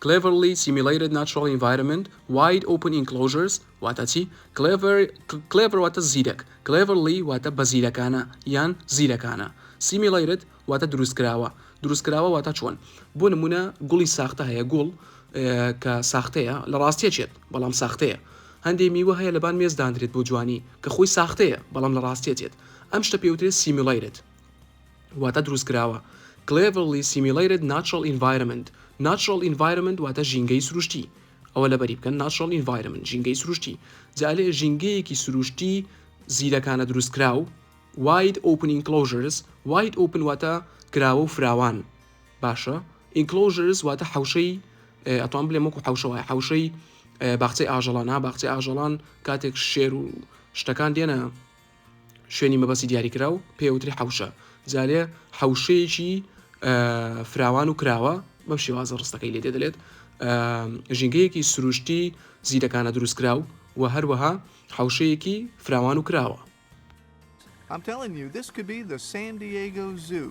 Cleverly Simulated Natural Environment Wide Open Enclosures واتە چی؟ Clever Clever واتە زیرەک Cleverly واتە بە زیرەکانە یان زیرەکانە Simulated واتە دروستکراوە دروستکراوە واتە چۆن بۆ نمونە گوڵی ساختە هەیە گوڵ کە ساختەیە لە ڕاستیە چێت بەڵام ساختەیە هەندێ میوە هەیە لەبان مێز دانرێت بۆ جوانی کە خۆی ساختەیە بەڵام لە ڕاستیە چێت ئەم شتە پێوترێت Simulated واتە دروستکراوە Cleverly Simulated Natural Environment Natural Environment واتە ژینگەی سروشتی ئەوە لەبەری بکەن Natural Environment ژینگەی سروشتی جا لێ ژینگەیەکی سروشتی زیرەکانە دروستکراو Wide Open Enclosures Wide Open واتە کراوە و فراوان باشە Enclosures واتە حەوشەی ئەتوان بلێم وەکو حەوشەوە حەوشەی باخچەی ئاژەڵان ها باخچەی ئاژەڵان کاتێک شێر و شتەکان دێنە شوێنی مەبەستی دیاریکراو پێوتری حوشە جارێ حوشەیەکی فراوان و کراوە بەم شێوازە ڕستەکەی لێ دەدرێت ژینگەیەکی سروشتی زیرەکانە دروستکراو و هەروەها حوشەیەکی فراوان و کراوە I'm telling you, this could be the San Diego Zoo.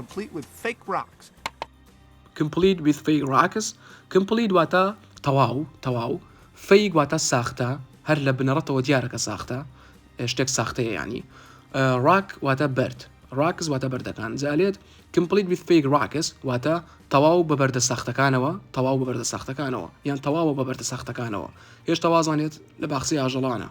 Complete with fake rocks Complete with fake rocks Complete واتە تەواو تەواو Fake واتە ساختە هەر لە بنەڕەتەوە دیارە کە ساختە شتێک ساختەیە ینی ڕاک واتە بەرد ڕاکس واتە بەردەکان جالێت Complete with fake rocks واتە تەواو بە بەردە ساختەکانەوە تەواو بە بەردە ساختەکانەوە یان تەواوە بە بەردە ساختەکانەوە هێشتا وازانێت لە باخسی ئاژەڵانە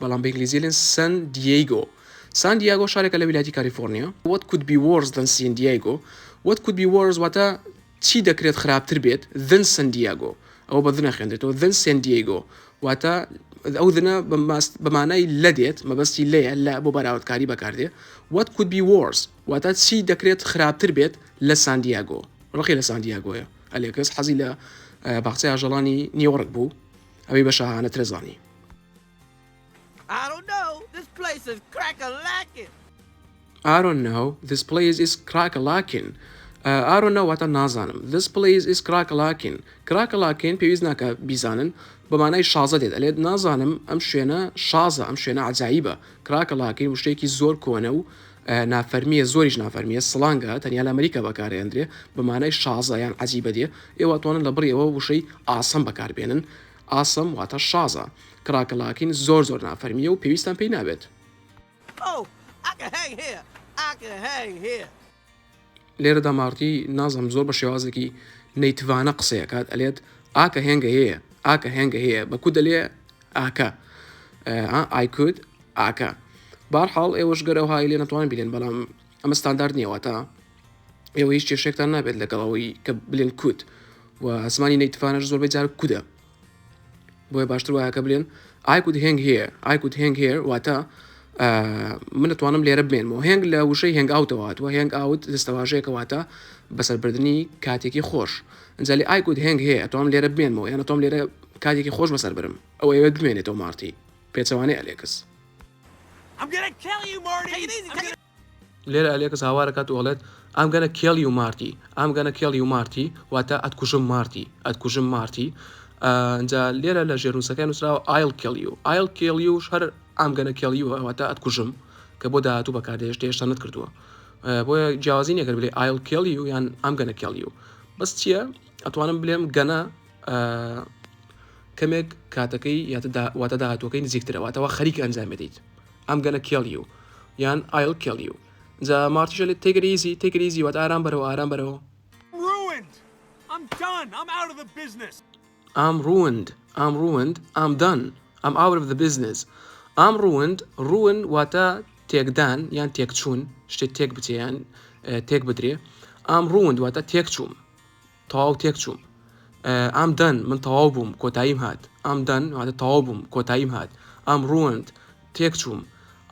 بەڵام بە ئینگلیزی ئەلێن سەن دیەیگۆ San Diego شارێکە لە ویلایەتی کالیفۆرنیا. What could be worse than San Diego What could be worse واتە چی دەکرێت خراپتر بێت than San Diego ئەوە بە the نەخوێنرێتەوە than San Diego واتە ئەو the بە مانای لە دێت مەبەستی لێیە لە بۆ بەراوردکاری بەکاردێ What could be worse واتە چی دەکرێت خراپتر بێت لە سان دیاگۆ ڕقی لە سان دیاگۆیە ئەلێکس حەزی لە باخچەی ئاژەڵانی نیوەڕک بوو ئەوەی بە شاهانە ترەزانی ئارۆن ناو this place is کراکەلاکین ئارۆن ناواتە نازانم this place is کراکەلاکین کراکەلاکین پێویست ناکە بیزانن بەمانای شازە دێت ئەلێت نازانم ئەم شوێنە شازە ئەم شوێنە عجاییبە کراکەلاکین وشتێکی زۆر کۆنە و نافەرمیە زۆریش نافەرمیە سڵانگە تەنیا لە ئەمریکا بەکارێندرێ بەمانای شازە یان عجیبە دێ ئێوەتوانن لە بڕیەوە وشەی ئاسم بەکاربێنن ئاسم واتە شازە. کڕاکە لاکین زۆر زۆر نافەرمیە و پێویستان پێی نابێت. لێرەدا مارتی نازم زۆر بە شێوازێکی نەیتڤانە قسەی ئەکات ئەلێت ئاکە هێنگە هەیە ئاکە هێنگە هەیە بە کو دەلێ ئاکە ئایکود ئاکە بارحاڵ ئێوەش گەرەوهای لێ نەتوان بلێن بەڵام ئەمە ستاندارد نییە واتا ئێوە هیچ کێشێکتان نابێت لەگەڵ ئەوەی کە بلێن کوت و ئەسمانی نەیتفانەش زۆربەی جار کودە بۆیە باشتر وایە کە بلێن ئایکود هنگ هەیە ئایکود هنگ هەیە واتە من دەتوانم لێرە بمێنمەوە هەنگ لە وشەی هەنگ ئاوتەوات و هەنگ ئاوت دەستەواژەیەکەواتە بەسەربردننی کاتێکی خۆش ئەجای ئایکود هەنگ هەیە ئەتوام لێرە بمێنمەوە یانە تۆم لێرە کاتێکی خۆش بەسەر برم ئەوەیە بمێنێتەوە مارتی پێچەوانەی ئەلێکس لێرە ئەلێکس هاوار ئەکات و ئەڵێت، I'm gonna kill you Marty I'm gonna kill you Marty واتە ئەتکوژم مارتی ئەتکوژم مارتی ئا ئینجا لێرە لە ژێرنووسەکەی نووسراوە I'll kill you I'll kill you هەر I'm gonna kill you واتە ئەتکوژم کە بۆ داهاتوو بەکاردێشت هێشتا نەتکردووە بۆیە جیاوازی نەگەر بلێ I'll kill you یان I'm gonna kill you بەس چییە ئەتوانم بلێم گەنە کەمێک کاتەکەی واتە داهاتوەکەی نزیکترەوەتەوە خەریک ئەنجام بدەیت ئەم گەنە کێڵی و یان ئایل کێڵی و جا مارتیشە لێت تێگریزی تێگریزی وات ئارام بەرەوە ئارام بەرەوە ئام ڕوند ئام ڕوند ئام دان ئەم ئاور the business ئام ڕوند ڕون واتە تێکدان یان تێکچوون شتێک تێک بچیان تێک بدرێ ئام ڕوون دواتە تێکچووم تەواو تێک چووم ئام دەن من تەواو بووم کۆتاییم هات ئام دەن واتە تەواو بووم کۆتاییم هات ئام ڕوەند تێک چووم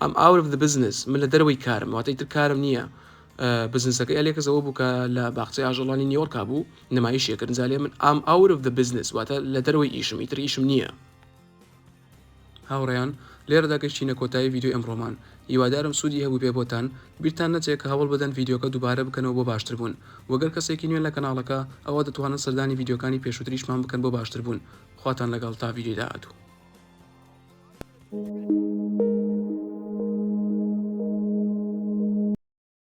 ئەم ئاورف دە بزنس من لە دەرەوەی کارم واتەی تر کارم نییە بزنسەکەی ئەلێکەزەوە بوو کە لە باخچەی ئاژەڵانی نیۆرکا بوو نمایشێکردن زالێ من ئام ئاورف دە بزنس واتە لە دەرەوەی ئیشم ئیتر ئیشم نییە هاوڕێیان لێرەدا گەشتینە کۆتایی ڤیدیۆی ئەمڕۆمان هیوادارم سودی هەبوبێ بۆتان بیرتان نەچێ کە هەوڵ بدەن ڤیدیۆکە دوبارە بکەنەوە بۆ باشتر بوون وە گەر کەسێکی نوێن لە کەناڵەکە ئەوا دەتوانن سەردانی ڤیدیۆکانی پێشوتریشمان بکەن بۆ باشتر بوون خواتان لەگەڵ تا ڤیدیۆی داهاتوو.